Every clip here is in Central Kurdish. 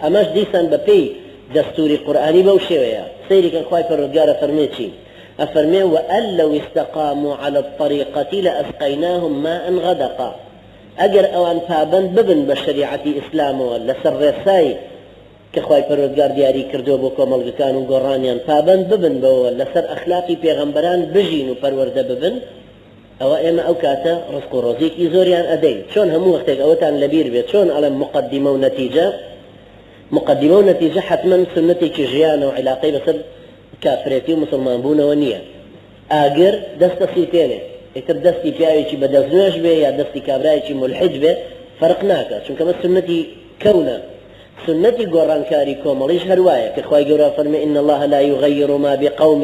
ئەمەش دیسان بەپێی دەستوری قورئانی بەو شێوەیە، سەیری کەن خوای پەروەردگار ئەفەرموێ چی؟ ئەفەرموێ، وان لو استقامو علی الطریقە لاسقیناهم ماء غدقا، ئەگەر ئەوان پابەند ببن بە شەریعەتی ئیسلامەوە لەسەر ڕێسای کە خوای پەروەردگار دیاری کردووە بۆ کۆمەڵگەکان و گۆڕانیان پابەند ببن بەوەوە لەسەر ئەخلاقی پێغەمبەران بژین و پەروەردە ببن، ئەوە ئێمە ئەو کاتە ڕزق و ڕۆزیەکی زۆریان ئەدەین چۆن هەموو وەختێک ئەوەتان لەبیر بێت چۆن ئەڵێم مقدمە و نەتیجە مقدمە و نەتیجە حەتمەن سونەتێکی ژیانە و علاقەی بەسەر کافرێتی و مسلمان بوونەوە نییە ئاگر دەست دەسووتێنێ ئیتر دەستی پیاوێکی بەدەست نوێش بێ یا دەستی کابرایەکی ملحد بێ فەرق ناکە چونکە بە سنەتی کەونە سنەتی گۆڕانکاری کۆمەڵیش هەروایە کە خوای گەورە فەرمی ان الله لا یغیر ما بقوم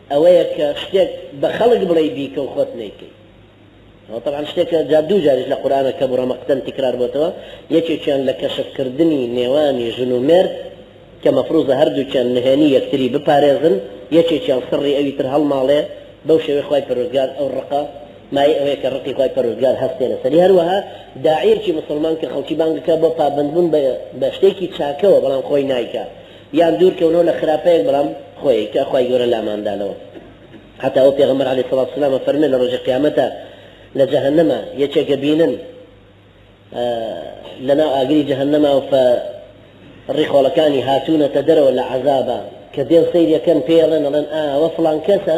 ئەوەیە کە شتێک بە خەڵک بڵێی بیکە و خۆت نەیکەی ئەوە تەبعەن شتێکە جا دوو جاریش لە قورئانە کەبوڕ ە مەقتەن تیکرار بۆتەوە یەکێکیان لە کەشف کردنی نێوانی ژن و مێرد کە مەفروزە هەردووکیان نهێنی یەکتری بپارێزن یەکێکیان سڕی ئەوی تر هەڵماڵێ بەو شێوەی خوای پەروەردگار ئەو ڕقە مایەی ئەوەیە کە ڕقی خوای پەروەردگار هەستێ لەسەری هەروەها داعیەکی موسڵمان کە خەڵکی بانگ دەکا بۆ پابەندبوون بە شتێکی چاکەوە بەڵام خۆی نایکا یان دوور کەونەوە لە خراپەیەک بەڵام خۆیەک کە خوای گەورە لامان دانەوە هەتا ئەو پێغەمبەر علی سڵات سلام ئەفەرمێ لە ڕۆژی قیامەتا لە جەهەنەما یەکێک ئەبینن لە ناو ئاگری جەهەنەما و فە ڕی خۆڵەکانی هاتوونەتە دەرەوە لە عەزابا کە دێن سەیری ئەکەن پێی ئەڵێن ئەڵێن ئا ئەوە فڵان کەسە